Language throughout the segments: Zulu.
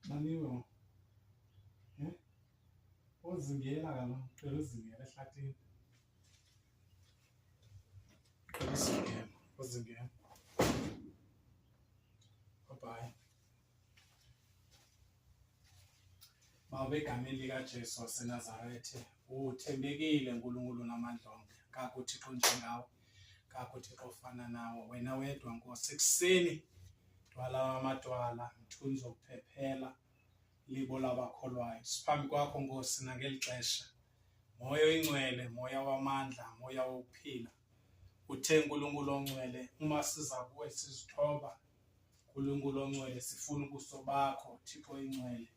Naniwe. Eh? Ozingela kalo, cela uzingela ehlathini. Cela uzingela, uzingela. Bye bye. Baba egameni likaJesu waseNazaretha, uthembekile uNkulunkulu namandla onke. Kakho uThixo njengawe, kakho uThixo ofana nawe. Wena wedwa Nkosi, ekuseni dwala wamadwala, mthunzi wokuphephela, libo labakholwayo. Siphambi kwakho Nkosi nangeli xesha. Moya oyingcwele, moya wamandla, moya wokuphila. Uthe uNkulunkulu ongcwele, uma siza kuwe sizithoba, Nkulunkulu ongcwele sifuna ubuso bakho Thixo ingcwele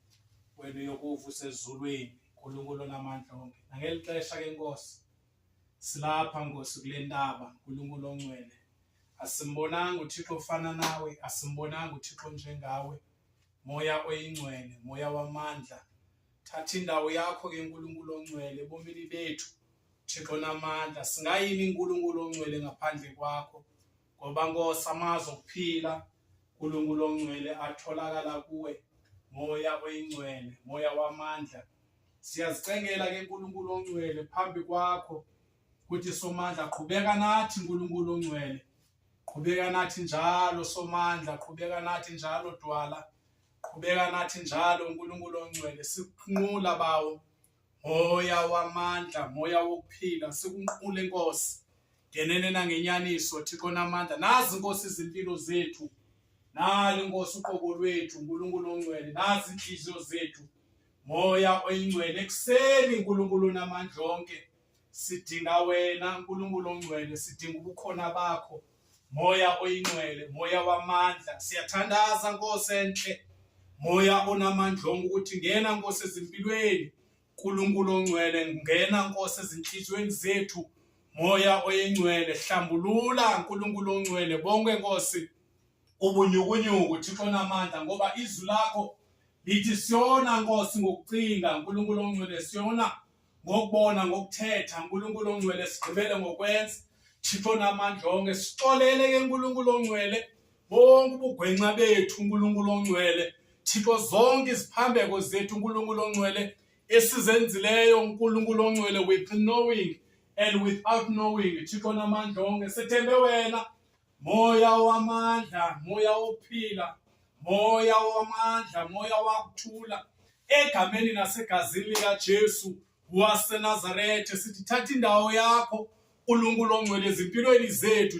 wena uyokuva usezulwini Nkulunkulu onamandla onke nangeli xesha ke Nkosi silapha Nkosi kule ndaba Nkulunkulu ongcwele asimbonanga uThixo ofana nawe asimbonanga uThixo njengawe moya oyingcwele moya wamandla thatha indawo yakho ke Nkulunkulu ongcwele ebomini bethu Thixo namandla singayini Nkulunkulu ongcwele ngaphandle kwakho Ngoba Nkosi amazwi okuphila uNkulunkulu ongcwele atholakala kuwe moya oyingcwele moya wamandla siyazicengela ke uNkulunkulu ongcwele phambi kwakho ukuthi somandla qhubeka nathi uNkulunkulu ongcwele qhubeka nathi njalo somandla qhubeka nathi njalo dwala qhubeka nathi njalo uNkulunkulu ongcwele sikunqula bawo Moya wamandla, moya wokuphila, sikunqule Nkosi. Ngenene nangenyaniso Thixo namandla. Nazi Nkosi izimpilo zethu. Nali Nkosi uqobo lwethu, uNkulunkulu ongcwele, nazi inhliziyo zethu. Moya oyingcwele ekuseni uNkulunkulu namandla onke. Sidinga wena Nkulunkulu ongcwele, sidinga ubukhona bakho. Moya oyingcwele, moya wamandla. Siyathandaza Nkosi enhle. Moya onamandla onke ukuthi ngena Nkosi ezimpilweni. Nkulunkulu ongcwele, ngena Nkosi ezinhliziyweni zethu. Moya oyingcwele, hlambulula Nkulunkulu ongcwele bonke Nkosi ubunyukunyuku Thixo namandla ngoba izwi lakho lithi siyona Nkosi ngokucinga Nkulunkulu ongcwele siyona ngokubona ngokuthetha uNkulunkulu ongcwele sigqibele ngokwenza Thixo namandla onke sixolele ke uNkulunkulu ongcwele bonke ubugwenxa bethu uNkulunkulu ongcwele Thixo zonke iziphambeko zethu uNkulunkulu ongcwele esizenzileyo uNkulunkulu ongcwele with knowing and without knowing Thixo namandla onke sethembe wena Moya wamandla, moya wokuphila, moya wamandla, moya wakuthula egameni nasegazini likaJesu waseNazaretha sithi thatha indawo yakho uNkulunkulu ongcwele ezimpilweni zethu